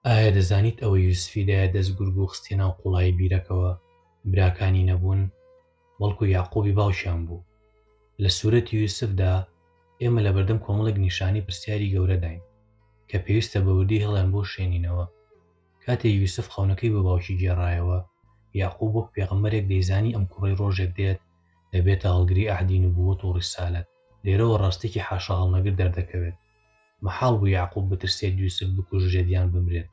ئایا دەزانیت ئەوەی یوسفی دایە دەست گورگ و خستیە ناو قوڵایی بیرەکەوە براکانی نەبوون بەڵکو یەعقوبی باوکیان بوو؟ لە سورەتی یوسفدا ئێمە لەبەردەم کۆمەڵێک نیشانی پرسیاری گەورەداین کە پێویستە بە وردی هەڵیان بۆ شێنینەوە کاتێ یوسف خەونەکەی بۆ باوکی گێڕایەوە یەعقوب وەک پێغەمبەرێک دەیزانی ئەم کوڕەی ڕۆژێک دێت دەبێتە هەڵگری عەهدی نبووەت و ڕیسالەت لێرەوە ڕاستێکی حاشاهەڵنەگر دەردەکەوێت مەحاڵ بوو یەعقوب بترسێت یوسف بکوژرێت یان بمرێت،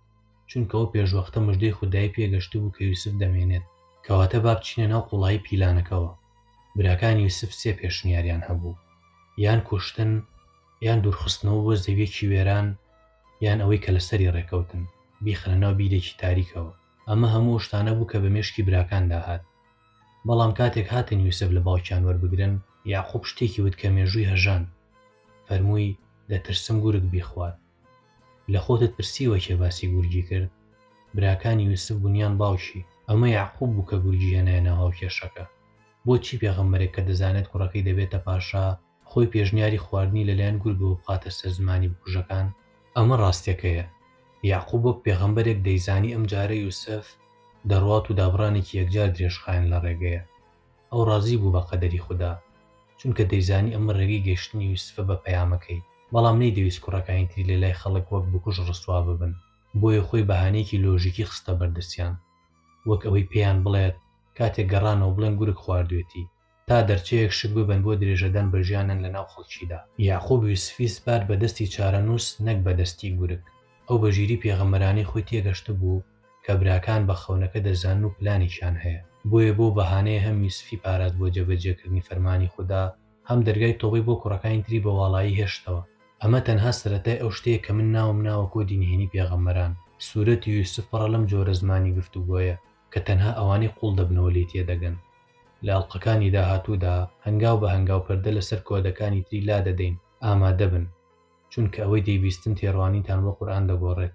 چونکە ئەو پێشوەختە مژدەی خودایی پێگەشتبوو کە یوسف دەمێنێت. کەواتە با بچینە ناو قوڵایی پیلانەکەوە. براکانی یوسف سێ پێشنیاریان هەبوو، یان کوشتن، یان دوورخستنەوە بۆ زەوییەکی وێران، یان ئەوەی کە لەسەری ڕێکەوتن، بیخەنە ناو بیرێکی تاریکەوە. ئەمە هەموو ئەو شتانە بوو کە بە مێشکی براکاندا هات. بەڵام کاتێک هاتن یوسف لە باوکیان وەربگرن، یەعقوب شتێکی وت کە مێژووی هەژاند، فەرمووی، دەترسم گورگ بیخوات. لە خۆتت پرسیوە کێ باسی گورگی کرد؟ براکانی یوسف بوون یان باوکی؟ ئەمە یەعقوب بوو کە گورگی هێنایە ناو هاوکێشەکە. بۆچی پێغەمبەرێک کە دەزانێت کوڕەکەی دەبێتە پاشا، خۆی پێشنیاری خواردنی لەلایەن گورگەوە بخاتە سەر زمانی بکوژەکان؟ ئەمە ڕاستەکەیە، یەعقوب وەک پێغەمبەرێک دەیزانی ئەمجارە یوسف دەڕوات و دابڕانێکی یەکجار درێژخایەن لە ڕێگەیە. ئەو ڕازی بوو بە قەدەری خودا، چونکە دەیزانی ئەمە ڕێگەی گەیشتنی یوسفە بە پەیامەکەی، بەڵام نەیدەویست کوڕەکانی تری لەلای خەڵک وەک بکوژ ڕسوا ببن، بۆیە خۆی بەهانەیەکی لۆژیکی خستە بەردەستیان، وەک ئەوەی پێیان بڵێت کاتێک گەڕانەوە بڵێن گورگ خواردوێتی. تا دەرچەیەک شک ببەن بۆ درێژەدان بە ژیانن لەناو خەڵکیدا. یەعقوب یوسفی سپارد بە دەستی چارەنووس نەک بە دەستی گورگ. ئەو بە ژیری پێغەمبەرانەی خۆی تێگەشتبوو کە براکان بە خەونەکە دەزانن و پلانێکیان هەیە. بۆیە بەو بەهانەیە هەم یوسفی پاراست بۆ جێبەجێکردنی فەرمانی خودا، هەم دەرگای تۆبەی بۆ کوڕەکانی تری بە واڵایی هێشتەوە. ئەمە تەنها سەرەتای ئەو شتەیە کە من ناوم ناوە کۆدی نهێنی پێغەمبەران. سورەتی یوسف پڕە لەم جۆرە زمانی گفتوگۆیە. کە تەنها ئەوانەی قوڵ دەبنەوە لێی تێدەگەن. لە ئەڵقەکانی داهاتوودا هەنگاو بە هەنگاو پەردە لەسەر کۆدەکانی تری لادەدەین، ئامادەبن، چونکە ئەوەی دەیبیستن تێڕوانینتان بۆ قورئان دەگۆڕێت.